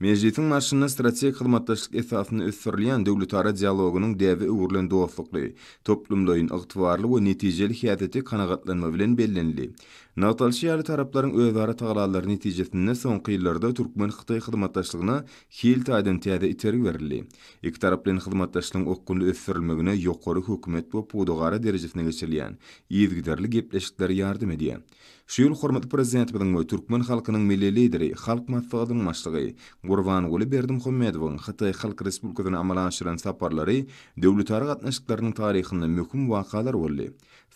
Mejlisiň barşynda strategik hyzmatdaşlyk esasynda ösdürilýän döwletara dialogynyň däbe öwrülen dostlukly, toplumlaýyn, ygtybarly we netijeli häsiýeti kanagatlanma bilen bellenildi. Nygtalyşy ýaly, taraplaryň özara tagallalary netijesinde soňky ýyllarda türkmen-hytaý hyzmatdaşlygyna hil taýdan täze itergi berildi. Ikitaraplaýyn hyzmatdaşlygyň okgunly ösdürilmegine ýokary hökümet we pudagara derejesinde geçirilýän yzygiderli gepleşikler ýardam edýär. Şu ýyl hormatly Prezidentimiziň we türkmen halkynyň Milli Lideri, Halk Maslahatynyň Başlygy Gurbanguly Berdimuhamedowyň Hytaý Halk Respublikasyna amala aşyran saparlary döwletara gatnaşyklarynyň taryhynda möhüm wakalar boldy.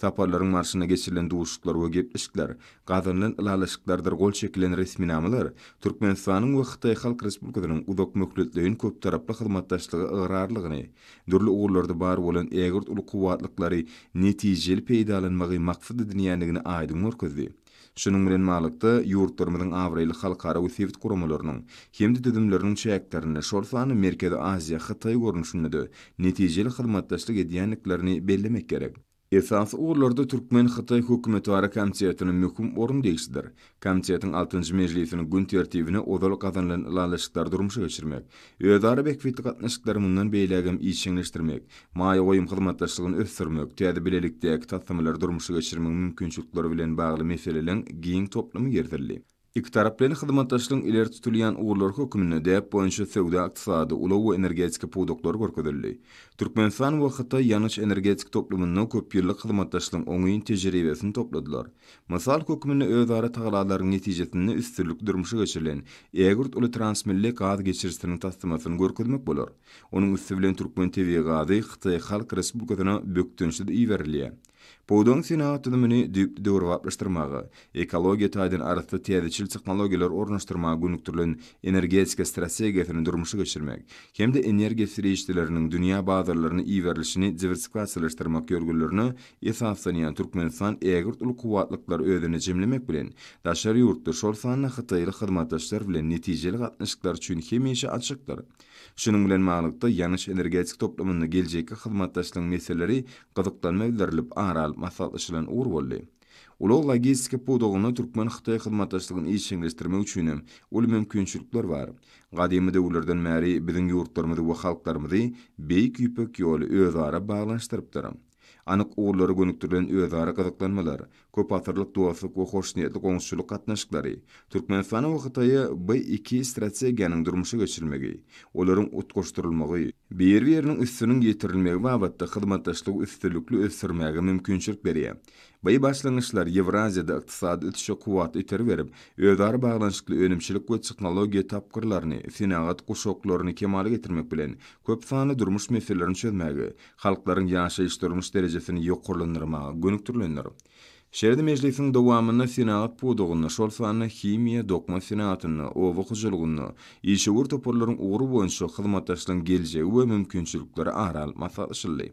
Saparlaryň barşynda geçirilen duşuşyklar we gepleşikler, gazanylan ylalaşyklardyr gol çekilen resminamalar Türkmenistanyň we Hytaý Halk Respublikasynyň uzakmöhletleýin köptaraply hyzmatdaşlyga ygrarlygyny dürli ugurlarda bar bolan ägirt uly kuwwatlyklary netijeli peýdalanmagy maksat edinýändigini aýdyň görkezdi. Şunuň bilen baglykda, ýurtlarymyzyň abraýly halkara we sebit guramalarynyň hem-de düzümleriniň çäklerinde, şol sanda Merkezi Aziýa, Hytaý görnüşinde-de netijeli hyzmatdaşlyk edýändiklerini bellemek gerek. Esasy ugurlarda türkmen-hytaý hökümetara komitetine möhüm orun degişlidir. Komitetiň altynjy mejlisiniň gün tertibine ozal gazanylan ylalaşyklary durmuşa geçirmek, özara bähbitli gatnaşyklary mundan beýlägem işjeňleşdirmek, maýa goýum hyzmatdaşlygyny ösdürmek, täze bilelikdäki taslamalary durmuşa geçirmegiň mümkinçilikleri bilen bagly meseleleň giň toplumy girizeldi. Ikitaraplaýyn hyzmatdaşlygyň ileri tutulýan ugurlary hökmünde däp boýunça söwda-ykdysady, ulag we energetika pudaklary görkezildi. Türkmenistan we Hytaý ýangyç-energetika toplumynda köpýyllyk hyzmatdaşlygyň oňyn tejribesini topladylar. Mysal hökmünde özara tagallalaryň netijesinde üstünlikli durmuşa geçirilen ägirt uly transmilli gaz geçirijisiniň taslamasyny görkezmek bolar. Onuň üsti bilen türkmen tebigy gazy Hytaý Halk Respublikasyna bökdençsiz iberilýär. Pudagyň senagat düzümini düýpli döwrebaplaşdyrmaga, ekologiýa taýdan arassa täzeçil tehnologiýalary ornaşdyrmaga gönükdirilen energetika strategiýasyny durmuşa geçirmek hem-de energiýa serişdeleriniň dünýä bazarlaryna iberilişini diwersifikasiýalaşdyrmak ýörgünlerine esaslanýan Türkmenistan ägirt uly kuwwatlyklary özünde jemlemek bilen, daşary ýurtly, şol sanda hytaýly hyzmatdaşlar bilen netijeli gatnaşyklar üçin hemişe açykdyr. Şunuň bilen baglylykda, ýanyş-energetika toplumynda geljekki hyzmatdaşlygyň meseleleri gyzyklanma bildirilip, ara alyp maslahatlaşylan ugur boldy. Ulag-logistika pudagynda türkmen-hytaý hyzmatdaşlygyny işjeňleşdirmek üçin hem uly mümkinçilikler bar. Gadymy döwürlerden bäri biziň ýurtlarymyzy we halklarymyzy Beýik Ýüpek ýoly özara baglanyşdyrypdyr. Anyk ugurlara gönükdirilen özara gyzyklanmalar, köpasyrlyk dostluk we hoşniýetli goňşuçylyk gatnaşyklary, Türkmenistanyň we Hytaýa bu iki strategiýanyň durmuşa geçirilmegi, olaryň utgaşdyrylmagy, bir-biriniň üstüniň ýetirilmegi babatda hyzmatdaşlygy üstünlikli ösdürmäge mümkinçilik berýär. By başlangyçlar Ýewraziýada ykdysady ösüşe kuwwatly itergi berip, özara baglanyşykly önümçilik we tehnologiýa tapgyrlaryny, senagat guşaklaryny kemala getirmek bilen, köp sanly durmuş meselelerini çözmäge, halklaryň ýaşaýyş-durmuş derejesini ýokarlandyrmaga gönükdirilendir. Şeýle-de mejlisiň dowamynda senagat pudagynda, şol sanda himiýa, dokma senagatynda, oba hojalygynda işewür toparlaryň ugry boýunça hyzmatdaşlygyň geljegi we mümkinçilikleri ara alnyp maslahatlaşyldy.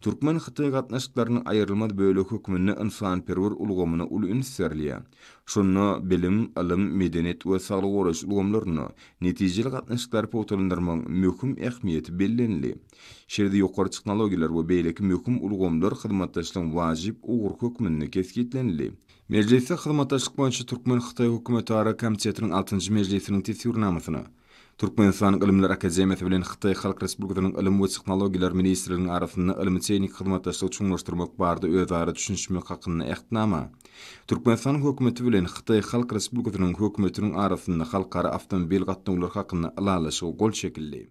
Türkmen-hytaý gatnaşyklarynyň aýrylmaz bölegi hökmünde ynsanperwer ulgamyna uly üns berilýär. Şunda bilim, ylym, medeniýet we saglygy goraýyş ulgamlarynda netijeli gatnaşyklary pugtalandyrmagyň möhüm ähmiýeti bellenildi. Şeýle-de ýokary tehnologiýalar we beýleki möhüm ulgamlar hyzmatdaşlygyň wajyp ugry hökmünde kesgitlenildi. Mejlisde hyzmatdaşlyk boýunça türkmen-hytaý hökümetara komitetiniň altynjy mejlisiniň teswirnamasyna, Türkmenistanyň Ylymlar akademiýasy bilen Hytaý Halk Respublikasynyň Ylym we tehnologiýalar ministrliginiň arasynda ylmy-tehniki hyzmatdaşlygy çuňlaşdyrmak barada özara düşünişmek hakynda Ähtnama, Türkmenistanyň Hökümeti bilen Hytaý Halk Respublikasynyň Hökümetiniň arasynda halkara awtomobil gatnawlary hakynda Ylalaşyga gol çekildi.